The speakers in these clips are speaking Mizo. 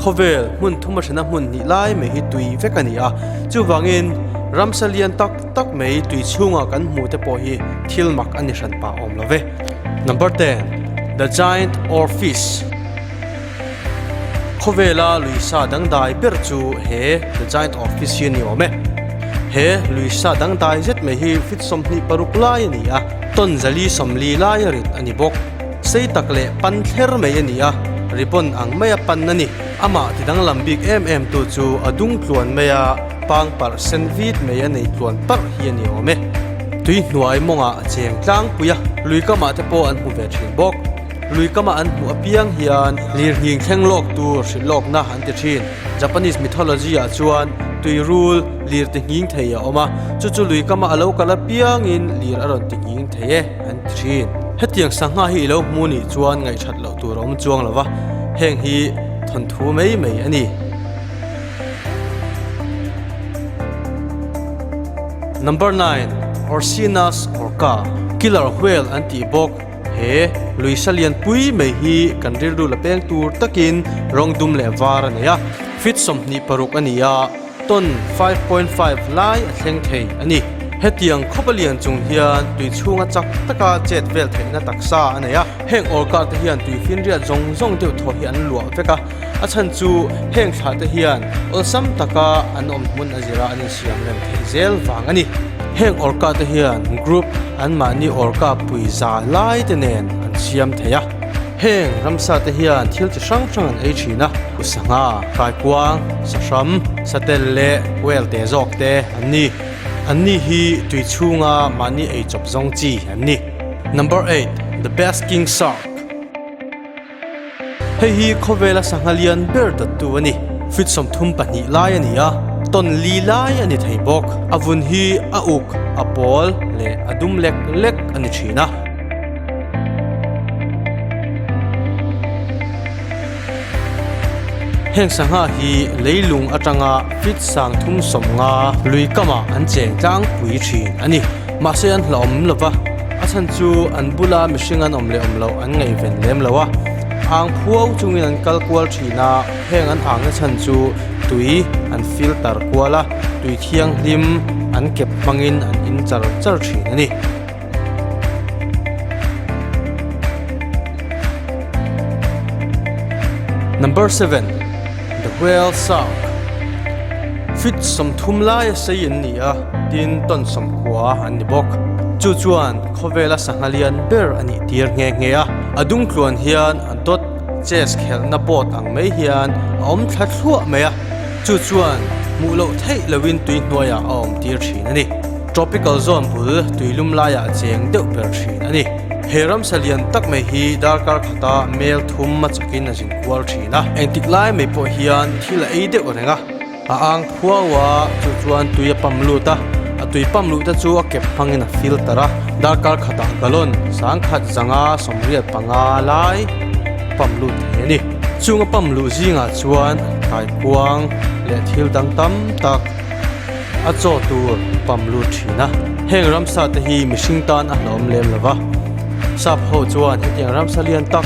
Khawvel hmun thuma hrena hmun hnih lai mai hi tui vek a ni a, chuvangin ramsa lian tak tak mai tui chhunga kan hmuh te pawh hi thil mak a ni hran pah awm lo ve. Number ten, The Giant or Fish? Khawvela lui sa dangdai ber chu he The Giant of Fitz hi a ni awm e. He lui sa dangdai zet mai hi Fitz sawmhnih paruk lai a ni a. Ton zali sawmli laia rit a ni bawk. Sei tak leh pan thler mai a ni a, ribbon ang maia pan a ni. Amah ti danglam bik em em tu chu a dung tluan maia pangpar sen vit mai a nei tluan parh hi a ni awm e. Tuihnuai mawngah a cheng tlangpui a, lui kamah te pawh an hmu ve thin bawk. Lui kamah an hmuh apiang hian lirhing thleng lawk tur hrilh lawkna an ti thin. Japanese mythology ah chuan tuirul lir ti nghing thei a awm a, chu chu lui kamah a lo kal apiangin lir a rawn ti nghing thei e an ti thin. Hetiang sangha hi i lo hmu nih chuan ngaihṭhat loh tur a awm chuang lo va, heng hi thawn thu mai mai a ni. Number nine, Orcina orca, killer whale an tih bawk. He luisa lian pui mai hi kan rilru la peng tur takin rawng dum leh var a nei a, feet sawmhnih paruk a ni a, ton five point five lai a thleng thei a ni. Hetiang khawpa lian chung hian tui chhunga chak taka chet vel theihna taksa a nei a, heng orkarte hian tui finriat zawng zawng deuh thawh hi an luah vek a. A chhan chu heng thlah te hian awlsam taka an awm hmun a zira an insiam rem thei zel vang a ni. Heng orka te hian group anmahni orka pui za lai te nen an siam thei a, heng ramsa te hian thil chi hrang hrang an ei thin a, Pu Sangha, Kaikuang, Sahram, Satel leh Kuel te zawk te an ni. An ni hi tui chhunga mahni ei chawp zawng chi an ni. Number eight, The Basking Shark. Hei hi khawvela sangha lian ber dattu a ni. Feet sawmthum pahnih lai a ni a, tawn li lai a ni thei bawk. A vun hi a uk, a pawl leh a dum lek lek a ni thin a. Heng sangha hi leilung atanga feet sangthum sawmnga lui kamah an cheng tlangpui thin a ni. Mahse an hla awm lova, a chhan chu an bula mihring an awm leh awm loh an ngaihven lem lo a. Ang phuau chungin an kal kual thin a, heng an angna chhan chu tui an filter kual a, tui thianghlim an kep hmangin an in char char thin a ni. Number seven. The Whale Song Fit sawmthum laia sei an ni a, tin ton sawmkua an ni bawk. Chu chuan khawvela sangha lian ber a nih tir nghe nghe a. A dungtluan hian a dawt, chess khelhna board ang mai hian a awm thla thluah mai a, chu chuan hmuh loh theih loin tui hnuaiah a awm tir thin a ni. Tropical zone bul tui lum laiah cheng deuh ber thin a ni. He ramsa lian tak mai hi darkar khata mel thum machakin a zin. kual thin a. Engtik lai mai pawh hian thil a ei deuh reng a, a ang khuau a, chu chuan tui a pump lut a, a tui pump luh te chu a kep hmangin a filter a, darkar khatah gallon sang khat zanga sawmriat panga lai pump lut thei a ni. Chunga pump luh zingah chuan kaikuang leh thil dang tam tak a chaw tur pump lut thin a, heng ramsa te hi mihring tan a hlawm lem lo va, sap ho chuan hetiang ramsa lian tak,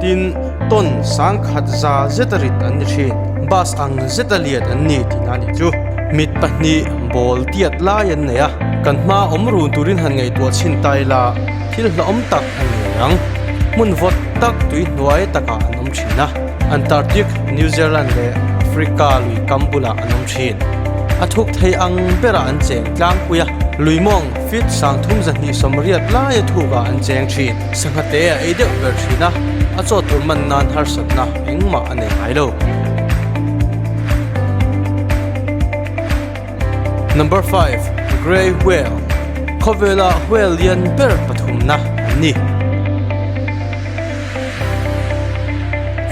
Tin, tawn sang khat za zeta rit an ni thin, bus ang zeta liat an ni tina ni chu. Mit pahnih bawl tiat lai an nei a, kan hma awm run turin han ngaihtuah chhin tai la, thil hlauhawm tak a nei ang. Hmun vawt tak tui hnuai takah an awm thin a, Antarctic, New Zealand leh Africa lui kam bulah an awm thin. A thuk thei ang berah an cheng tlangpui a, luimawng feet sangthum zahnih sawmriat laia thukah an cheng thin. Sangha te a ei deuh ber thin a, a chawt tur man nan harsatna engmah a nei ngai lo. Number five, Grey Whale, Khawvela whale lian ber pathumna an ni.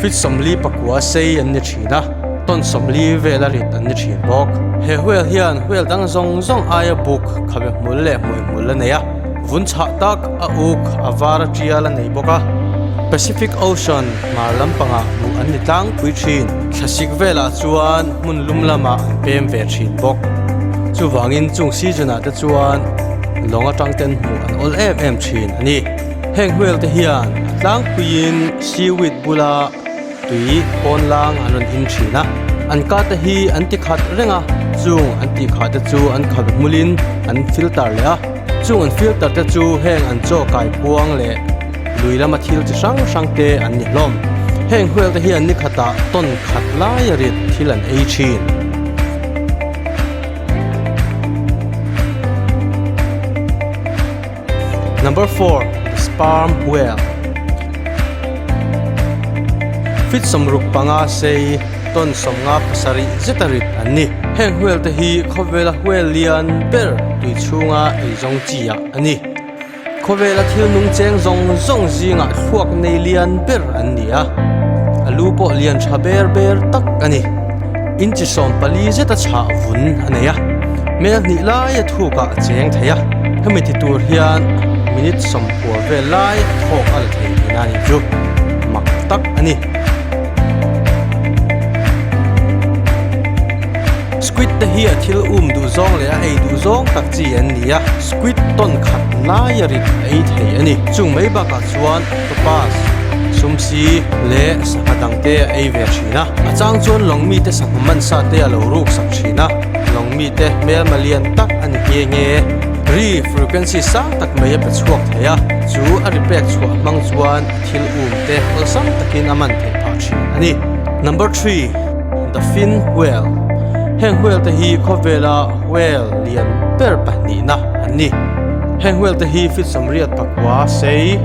Fit sawmli pakua sei an ni thin a, tawn sawmli vel a rit an ni thin bawk. He whale hian whale dang zawng zawng aia buk khawve hmul leh hmuihmul a nei a. Vun chhah tak a uk a vara tial a nei bawk a. Pacific Ocean hmar lampangah hmuh an ni tlangpui thin. Thlasik velah chuan hmun lum lamah an pem ve thin bawk. Chuvangin chung season-ah te chuan lawng atang ten hmuh an awlh em em thin a ni. Heng hmelte hian a tlangpuiin seaweed bula. Tui pawn lang an rawn him thin a, an kate hi an ti khat reng a, chung an tih khah te chu an khat hmul in an filter leh a, chung an filter te chu heng an chaw kai puang leh lui lama thil chi hrang hrang te an ni hlawm. Heng huel te hian ni khat ah ton khat lai a rit thil an ei thin. Number four, sperm whale Fit sawmruk panga sei ton sawmnga pasarih zeta rit an ni. Heng whale te hi khawvela whale lian ber tui chhunga ei zawng chi ah a ni. Khawvela thil nung cheng zawng zawng zingah thluak nei lian ber an ni a, a lu pawh lian tha ber ber tak a ni. Inchisawm pali zeta chhah vun a nei a, hmel hnih laia thukah a cheng thei a, hemi ti tur hian minute sawmkual vel lai thawk a la thei tih na nih chu mak tak a ni. Squid te hi a thil um duh zawng leh a ei duh zawng tak chi an ni a, squid tawn khat laia rit a ei thei a ni. Chung mai bakah chuan. Topaz, sumsi, leh sangha dangte a ei ve thin a. A chang chuan lawng mite sangha mansa te a lo ruksak thin a. Lawng mite hmelma lian tak a ni hi eng e? Ri frequency sang tak mai a pe chhuak thei a, chu a ri pek chhuah hmang chuan a thil um te awlsam takin a man thei phah thin a ni. Number three, The Fin Whale, Heng whale te hi khawvela whale lian ber pahnihna an ni. Heng hual te hi fitsam riat pakua sei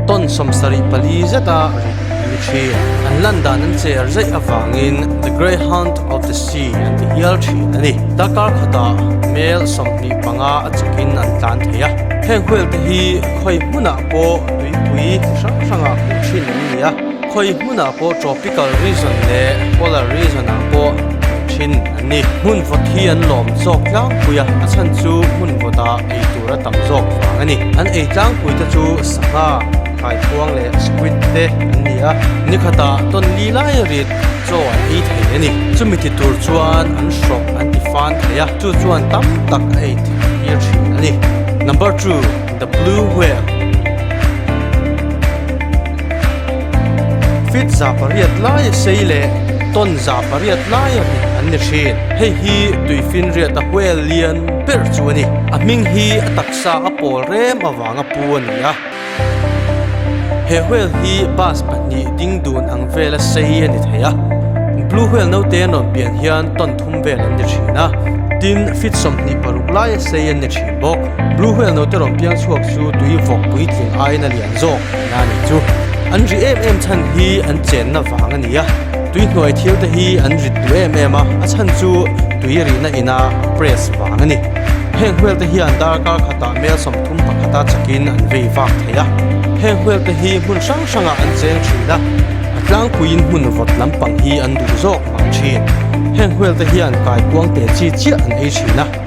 tawn sawm sarih pali zeta rit an ni thin. An lan dan an cher zeih avangin The Greyhound of the Sea an ti hial thin a ni. Darkar khatah mel sawmhnih panga a chakin an tlan thei a. Heng hual te hi khawi hmunah pawh tuipui chi hrang hrangah hmuh thin an ni a, khawi hmunah pawh tropical region leh polar region ah pawh hmuh thin an ni. Hmunvawt hi an lawm zawk tlangpui a, a chhan chu hmunvawtah ei tur a tam zawk vang a ni. An ei tlangpui te chu sangha, thaikhuang leh squid te an ni a, ni khata tonli laia rit chaw an ei thei a ni. Chumi ti tur chuan an hrawk an ti fan thei a, chu chuan tam tak a ei thlir thin a ni. Number two, The Blue Whale. Feet za pariat laia sei leh ton za pariat laia mi an ni thin. Hei hi tui finriat a huel lian ber chu a ni. A hming hi a taksa a pawl rem avanga pu a ni a. He huel hi bus pahnih ding dun ang vel a sei a ni thei a. Blue huel naute an rawn pian hian ton thum vel an ni thin a. Tin, feet sawmhnih paruk laia sei an ni thin bawk. Blue huel naute rawn piang chhuak chu tui vawk puitling aina lian zawk. Hna nih chu an ri em em chhan hi an chenna vang a ni a, tui hnuai thil te hi an rit duh em em a, a chhan chu tui a rihna ina press vang a ni. Heng huel te hian darkar khatah mel sawmthum pakhata chakin an vei vak thei a, heng huel te hi hmun hrang hrangah an cheng thin a, a tlangpuiin hmun vawt lampang hi an duh zawk hmang thin. Heng huel te hian kai puangte chi chiah an ei thin a.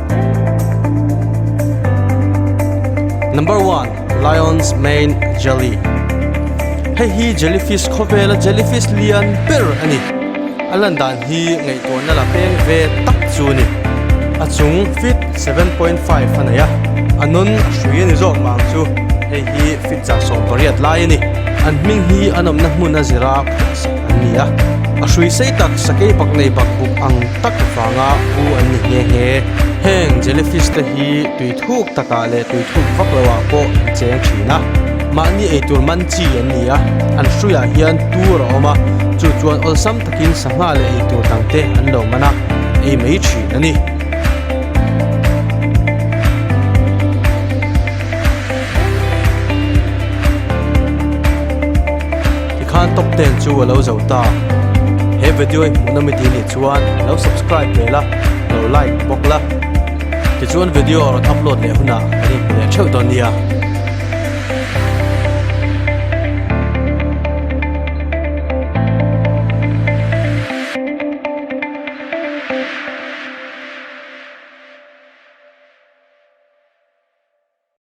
Number one, Lion's Mane Jelly. Hei hi jellyfish khaw vela jellyfish lian ber a ni. A lan dan hi ngaihtuahna la peng ve tak chu a ni. A chung feet 7.5 a nei a. A nun a hrui a ni zawk vang chu hei hi feet chah sawm pariat lai a ni. An hming hi an awmna hmun a zira. an ni a, a hrui sei tak sakei bak nei bak buk ang tak vanga bu an ni nghe nghe. Heng jellyfish te hi tui thuk takah leh tui thuk vak lo ah pawh an cheng thin a, mahni eitur man chi an ni a, an hrui ah hian tur a awm a, chu chuan awlsam takin sangha leh eitur dang te an lo man a, ei mai thin a ni. Tikhan top ten chu a lo zo ta. He vedio i hmuhna mi ti nih chuan lo subscribe ve la, lo like bawk la. Tichuan vedio a rawn upload leh hunah kan inhmu leh theuh dawn nia.